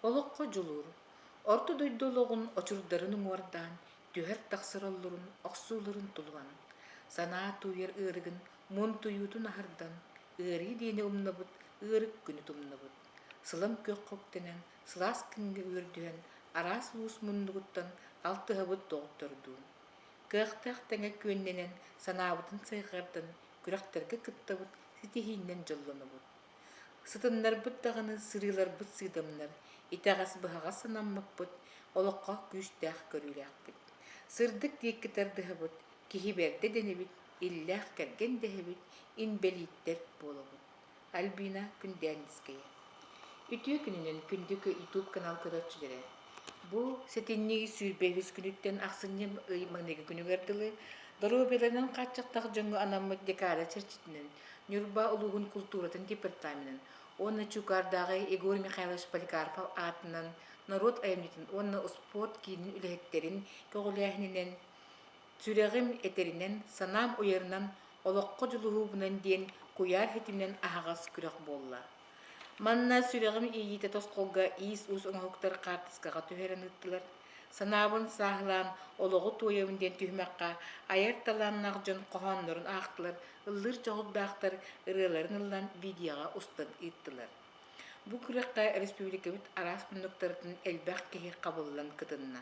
Олоххо дьулуур, Орто дойду олоҕун очурдарын уҥуордаан, түһэр тахсар оллурун, охсууларын тулуйан, санаа тууйар ыарыгын, муунтуйуутун аһардан, ыарыы диэни умнабыт, ыарык күнү тумнабыт, сылам күөх хоктэнэн, сылаас күҥҥэ үөрдүһэн, араас уус муннугуттан алтыһабыт доҕоттордуун. Кыахтаах тэҥэ күөннэнэн, санаабытын сайҕардан, күрэхтэргэ кыттабыт, ситиһииннэн дьоллонобут. Сытыннарбыт даҕаны сырыыларбыт сыыдамнар, итэҕэс-быһаҕас санаммыппыт, олоххо күүстээх көрүүлээхпит. Сырдык диэкки тардыһабыт, киһи бэрдэ дэнэбит, иллээх кэргэн дэһэбит, инбэлииттэр буолабыт. Альбина Күндээндискэйэ Үтүө күнүнэн күндү YouTube канал көрөөччүлэрэ! Бу сэтинньи сүүрбэ үһүс күнүттэн ахсынньы ый маныгы күнүгэр дылы доруобуйаларын хааччахтах дьоҥҥо анаммыт декада чэрчитинэн Ньурба улууһун култууратын департаменын уонна Чуукаардааҕы Егор Михайлович Поликарпов аатынан норуот айымньытын уонна успуорт киинин үлэһиттэрин көҕүлээһининэн сүрэҕим этэринэн, санаам уйарынан олоххо дьулуһуубунан диэн куйаар ситиминэн аһаҕас күрэх буолла Манна сүрэҕим иийиитэ тосхолго иис-уус оҥоһуктар хаартыскаҕа түһэрэн ыыттылар. Санаабын сааһылаан олоҕу туойабын диэн түһүмэххэ айар талааннаах дьон хоһооннорун аахтылар, ыллыыр дьоҕурдаахтар ырыаларын ыллан видеоҕа устан ыыттылар. Бу күрэххэ республикабыт араас муннуктарытын элбэх киһи хабыллан кытынна.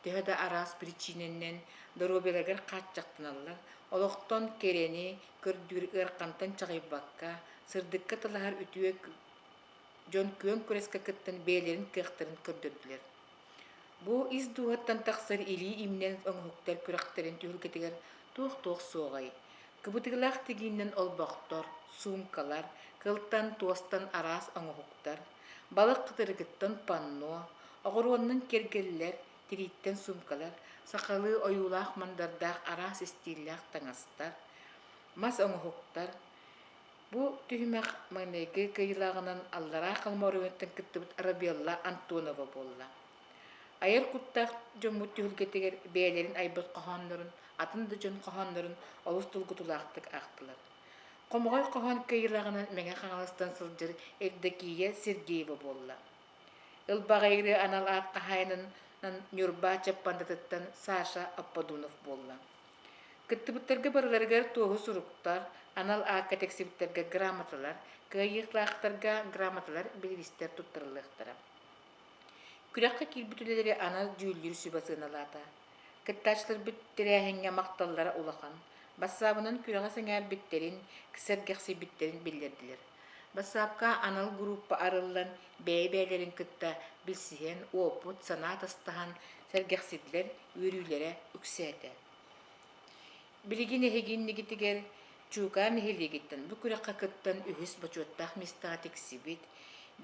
Төһө да араас причинэннэн доруобуйаларыгар хааччахтаналлар, олохтон кэрэни көрдүүр ыарахантан чаҕыйбакка, сырдыкка талаһар үтүө дьон күөн күрэскэ кыттан бэйэлэрин кыахтарын көрдөрдүлэр. Бу ис дууһаттан тахсар илии имнэн оҥоһуктар күрэхтэрин түһүлгэтигэр туох-туох суоҕай? Кыбытыылаах тигииннэн олбохтор, суумкалар, кылтан, туостан араас оҥоһуктар, Балык кытырыгыттан панно, оҕуруоннун киргиллэр, тирииттэн суумкалар, сахалыы ойуулаах мандардаах араас истииллээх таҥастар, мас оҥоһуктар. Бу түһүмэх маҥнайгы кыйылаҕынан аллараа халыма оройуонуттан кыттыбыт Арабелла Антонова буолла. Айар куттаах дьоммут түһүлгэтигэр бэйэлэрин айбыт хоһооннорун, атын да дьон хоһооннорун олус тургутулаахтык аахтылар. Хомоҕой хоһоон кыйылаҕынан Мэҥэ Хаҥаластан сылдьар Евдокия Сергеева буолла. Ылбаҕайыры анал аат хаһаайынынан Ньурба Чаппандатыттан Саша Апподунов буолла. Кыттыбыттарга барыларыгар туоһу суруктар, анал аакка тиксибиттэргэ грамоталар, кыайыылаахтарга грамоталар, бириистэр туттарыллыахтара. Күрэххэ киирбит үлэлэри анал дьүүллүүр сүбэ сыаналаата. Кыттааччыларбыт тэрээһиҥҥэ махталлара улахан. Бассаабынан күрэҕи сэҥээрбиттэрин, сэргэхсийбиттэрин биллэрдилэр. Бассаапка анал группа арыллан, бэйэ-бэйэлэрин кытта билсиһэн, уопут, санаа атастаһан сэргэхсийдилэр, үөрүүлэрэ үксээтэ. Билигин эһиги иннигитигэр Чуукаа нэһилиэгиттэн бу күрэххэ кыттан үһүс бочуоттаах миэстэҕэ тиксибит,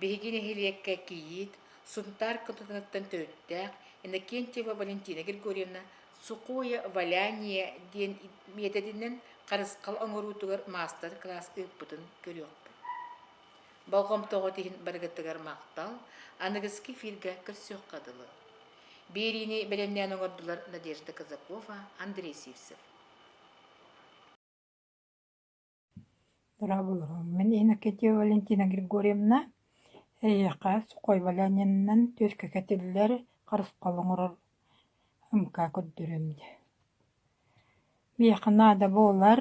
биһиги нэһилиэккэ кийиит Сунтаар кытатыттан төрүттээх Иннокентьева Валентина Григорьевна Сухое валяние диэн миэтэтинэн харысхал оҥоруутугар маастар-кылаас ыыппытын көрүөхпүт. Болҕомтоҕут иһин барыгытыгар махтал, аныгыскы эфиргэ көрсүөххэ дылы. Биэриини бэлэмнээн олордулар Надежда Казакова, Андрей Сивцев. Дорабулуһум. Мин Иннокентьева Валентина Григорьевна эйиэхэ сухой валянинынан түөскэ кэтиллэр харысхал оҥорор МК көрдөрөм дии. Миэхэ наада буолар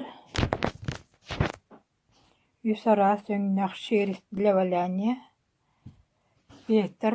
үс араас өҥнөөх шерсть для валяния, ветер,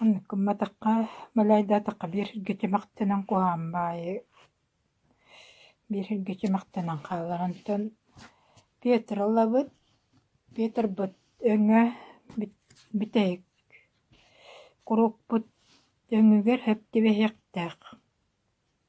Оннук гымматахха, малайдаатахха биэрэргэ тимэхтэнэн куһаҕан баайы биэрэргэ тимэхтэнэн хаалар. Онтон Петролабыт, Петрбыт өҥө бүтэһик. Куруукпут өҥүгэр сөп түбэһиэхтээх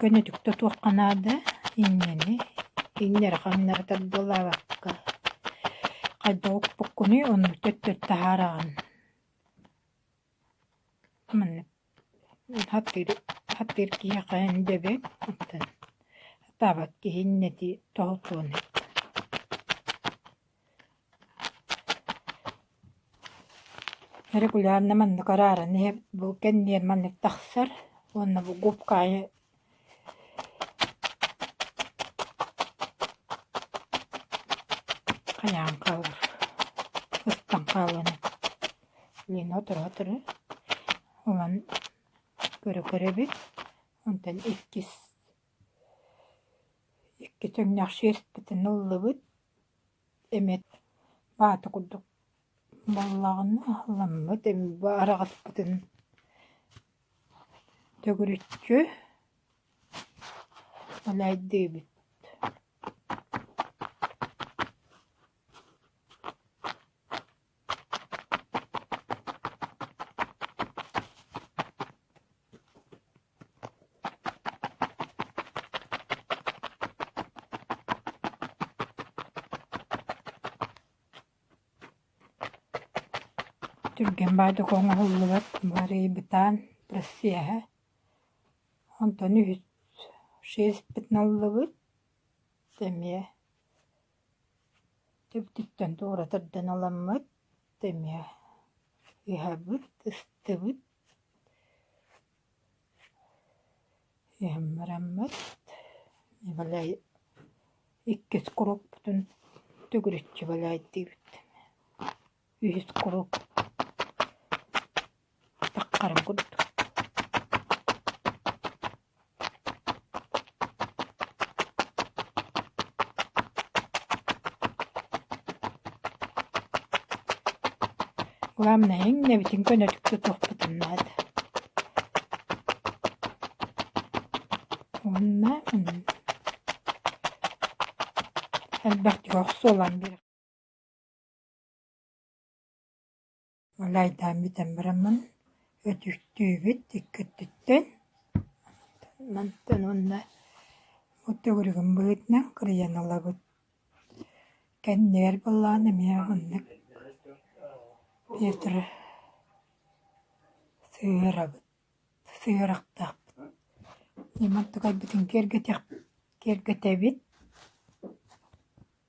Көнөтүктэ туохха наада иннэни иннэри хаҥнары тардылаабакка хайдах укпуккунуй ону төттөрү таһаараҕын маннык хаттыыр хаттыыр киһиэхэ дэбэҥ оттон сатаабат киһи иннэти тоһутуон Регулярно маннык арааран иһэбит, бу кэнниэр маннык тахсар уонна бу губка айы хайаан хаалар, ыстан хаалыаны блин оторо-оторо ылан көрө-көрөбүт. Онтон иккис иккис өҥнөөх шерстпитин ыллыбыт. Эмиэ вата курдук буоллаҕына аһылламмыт эми араҕыспытын төгүрүччү элэйдиибит. Түргэн баайдык оҥоһуллубат барыйбытаан процеһа онтон үһүс шесть пятналлыбыт эмиэ Түбтүттэн туора тардан аламмыт, эмиэ иһэбит, ыстыбыт, иһэн бараммыт, бадай иккис куруппутун төгүрүччү балаайдыыбыт үһүс куруук тахтарым курдук главное иҥнэбитин көнөтүккэ туохпутун наада уонна элбэхтик охсу ылан биэрэхпит Ол айдаан бүтэн бараммын өтүктүүбүт икки өттүттэн. Мантан уонна бу төгүрүгүм быһыытынан кырыйан ылабыт. Кэннигэр быллаан эмиэ оннук ветр сыһыарабыт, сыһыарахтаахпыт. Ньиман тукайбытын киэргэтэбит.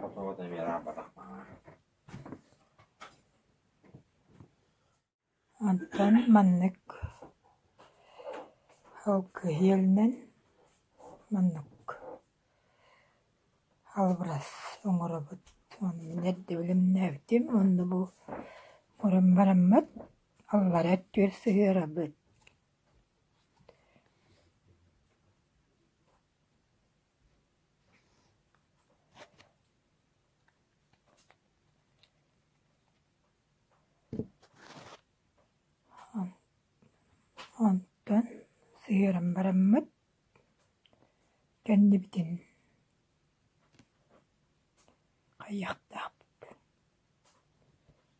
Хотугу да эмиэ ырааппатахпына Онтон маннык алгыһыыланан маннык албарас оҥоробут онон эрдэ билимнээбитим уонна бу мурун бараммыт аллара өттүгэр сыһыарабыт Онтон сыһыаран бараммыт кэннибитин хайыахтаахпыт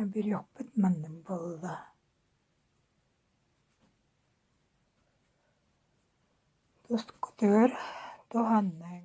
Аберехпыт маннык буолла Тускутугар туһаныҥ